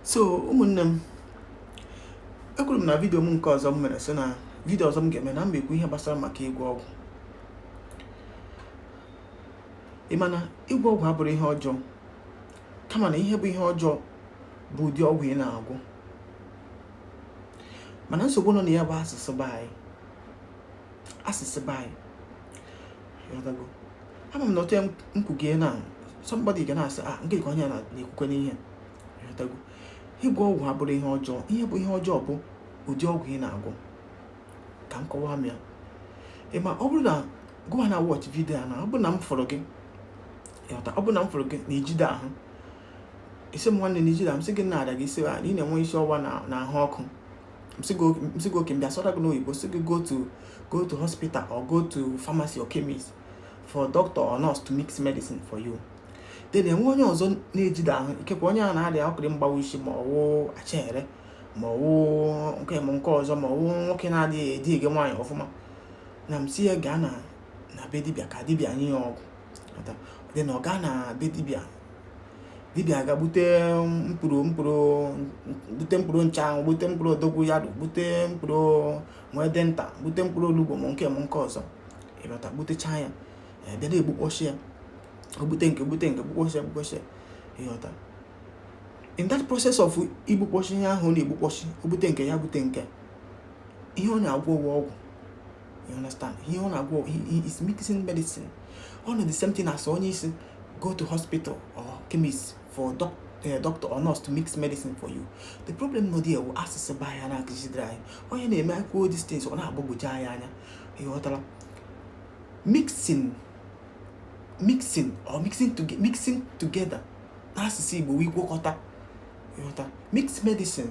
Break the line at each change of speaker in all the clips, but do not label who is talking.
so ụmụnne m ekwuru m na vidio m nke ọzọ m mere sị na vidio ọzọ m ga-eme na m ekwu ihe gbasara maka ịgwọ ọgwụ ị ma na ịgwọ ọgwụ abụrọ ihe ọjọọ kama na ihe bụ ihe ọjọọ bụ ụdị ọgwụ ị na-agwọ mana nsogbu nọ na ya bụ asụsụ be anyị asụsụ be anyị ama m na otu nkwugie na somebody ga na-asị a ah, nke ka onye na-ekwukwe n'ihe ịgwọ ọgwụ abụrọ ihe ọjọọ ihe bụ ihe ọjọọ bụ ụdị ọgwụ ị na-agwọ ka m kọwamie ya ị ma ọ bụrụ na gụwa na-watch vidio a na ọ bụrụ na m fụrụ gị ọ bụrụ na m fụrụ gị na ijide ahụ ị sị m nwanne na ijide ahụ m sị gịnị na-arịa gị ị sị ị na-enwe isi ọwa na ahụ ọkụ m sị gị okay m bịa sụọrọ gị n'oyibo sị gị go to go to hospital or go to pharmacy or chemist for doctor or nurse to mix medicine for you then e nwee onye ọzọ na-ejide ahụ ikekwe onye a na-arịa ọkịrị mgbawa isi ma ọwụ achere ma ọwụ nke m nke ọzọ ma ọwụ nwoke na-adịghị edighị nwaanyị ọfụma na m sị ya gaa na na be dibịa ka dibịa nye ya ọgwụ then ọ gaa na be dibịa dibịa ga gbute mkpụrụ mkpụrụ gbute mkpụrụ nchanwụ gbute mkpụrụ dogoyaro gbute mkpụrụ nwede nta gbute mkpụrụ olugbu ma nke ma nke ọzọ ịghọta gbutecha ya bịa na-egbukpọchi ya o gbute nke gbute nke gbukpọchi ya gbukpọchi ya ịghọta in that process of igbukpọchi ihe ahụ na-egbukpọchi o gbute nke ya gbute nke ihe ọ na-agwọ wụ ọgwụ you understand ihe ọ na-agwọ he is mixing medicine ọ wụ the same thing as onye ị sị go to hospital or chemist for doc eh, doctor or nurse to mix medicine for you the problem nọ there bụ asụsụ be anyị na-akụzidere anyị onye na-eme akwụkwọ these things ọ na-agbagwoju anyị anya ịghọtara mixing mixing or mixing, to, mixing together n'asụsụ Igbo wụ ịgwakọta ịghọta mix medicine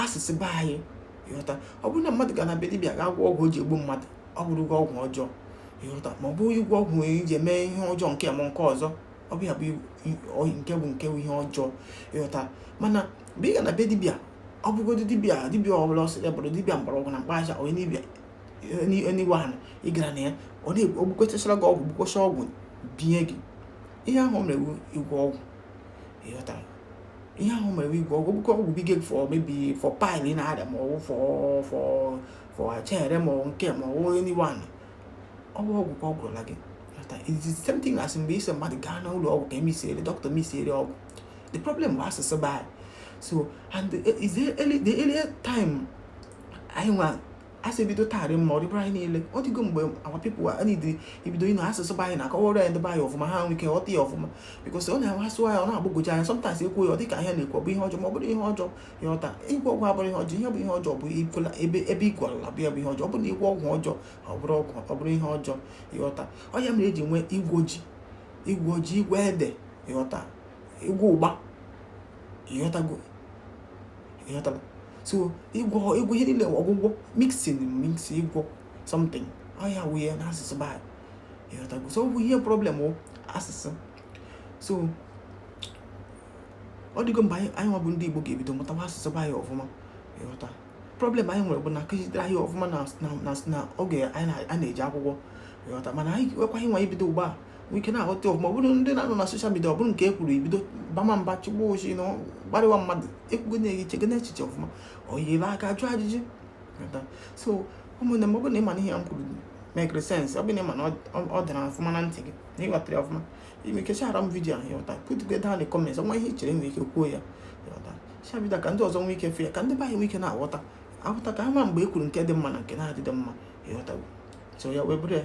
asụsụ be anyị ịghọta ọ bụrụ na mmadụ ga na be dibịa ga agwọ ọgwụ o ji egbu mmadụ ọ bụrụ ịgwọ ọgwụ ọjọọ ịghọta ma ọ bụ ịgwọ ọgwụ nwere iji eme ihe ọjọọ nke ma nke ọzọ ọ bụ ya bụ nke bụ nke bụ ihe ọjọọ ịghọta mana mgbe ị ga na be dibịa ọ bụgodo dibịa dibịa ọbụla ọ sị ya bụrụ dibịa mgbọrọgwụ na mkpa ahịhịa onye dibịa anyone ị gara na ya ọ na-egbukọchachara gị ọgwụ gbukọcha ọgwụ binye gị ihe ahụ mere wụ ịgwọ ọgwụ ịghọtara ihe ahụ mere ịgwọ ọgwụ gbukọ ọgwụ binye gị for maybe for pile ị na-arịa ma ọwụ for for for achere ma ọwụ nke ma ọwụ anyone ọ wụ ọgwụ ka ọ gwọọrọla gị is the same thing as mgbe ị sị mmadụ gaa na ụlọ ọgwụ ka e mixiere doctor mixiere ọgwụ the problem bụ asụsụ be anyị so and the earlier time anyị nwa a sị bido taa rị mma ọ dịbara anyị niile ọ dịgo mgbe our people needịrị ibido ịnụ asụsụ be anyị na-akọwara ya ndị be anyị ọfụma ha nwee ike ghọta ya ọfụma because ọ na-asụ ya ọ na-agbagwoju anya sometimes e kwuo ya ọ dịka ihe na-ekwu ọ bụ ihe ọjọọ ma ọ bụrụ ihe ọjọọ ịghọta ịgwọ ọgwụ abụrụ ihe ọjọọ ihe bụ ihe ọjọọ bụ ị gwọla ebe ebe ị gwọla bụ ya bụ ihe ọjọọ ọ bụ na ịgwọ ọgwụ ọjọọ ọ bụrụ ọgwụ ọ bụrụ ihe ọjọọ ịghọta ọ ya mere eji nwee ịgwọ ji ịgwọ ji ịgwọ ede ịghọta ịgwọ ụgba ịghọtago ịghọta so ịgwọ ịgwọ ihe niile ọgwụgwọ mixing mix ịgwọ something ọ ya wụ ya n'asụsụ be anyị ịghọtago so ọ bụ ihe problem bụ asụsụ so ọ dịgo mgbe anyị nwa bụ ndị Igbo ga-ebido mụtawa asụsụ be anyị ọfụma ịghọta problem anyị nwere bụ na akụzidere anyị ọfụma na oge anyị na-eje akwụkwọ ịghọta mana anyị nwekwaghị nwa ibido ugbu a ike na-aghọta ọfụma ọ bụrụ ndị na-anọ na social media ọ bụrụ nke e kwuru i bido bama mba chịgbaa ọchị na kparịwa mmadụ ekwugo na-eyi chego na echiche ọfụma ọ yiri aka jụọ ajụjụ so ụmụnne m ọ bụrụ na ị ma na ihe m kwuru makere sense ọ bụ na ị ma na ọ dara ọfụma na ntị gị na ịghọtara ya ọfụma i nwee ike sharera m video ahụ ịghọta put it down in the comments o nwee ihe i chere nwere ike kwuo ya ịghọta share video ka ndị ọzọ nwee ike fụ ya ka ndị be anyị nwee ike na-aghọta aghọta ka ha ma mgbe e kwuru nke dị mma na nke na-adịdị mma ịghọtago so ya wee bụrụ ya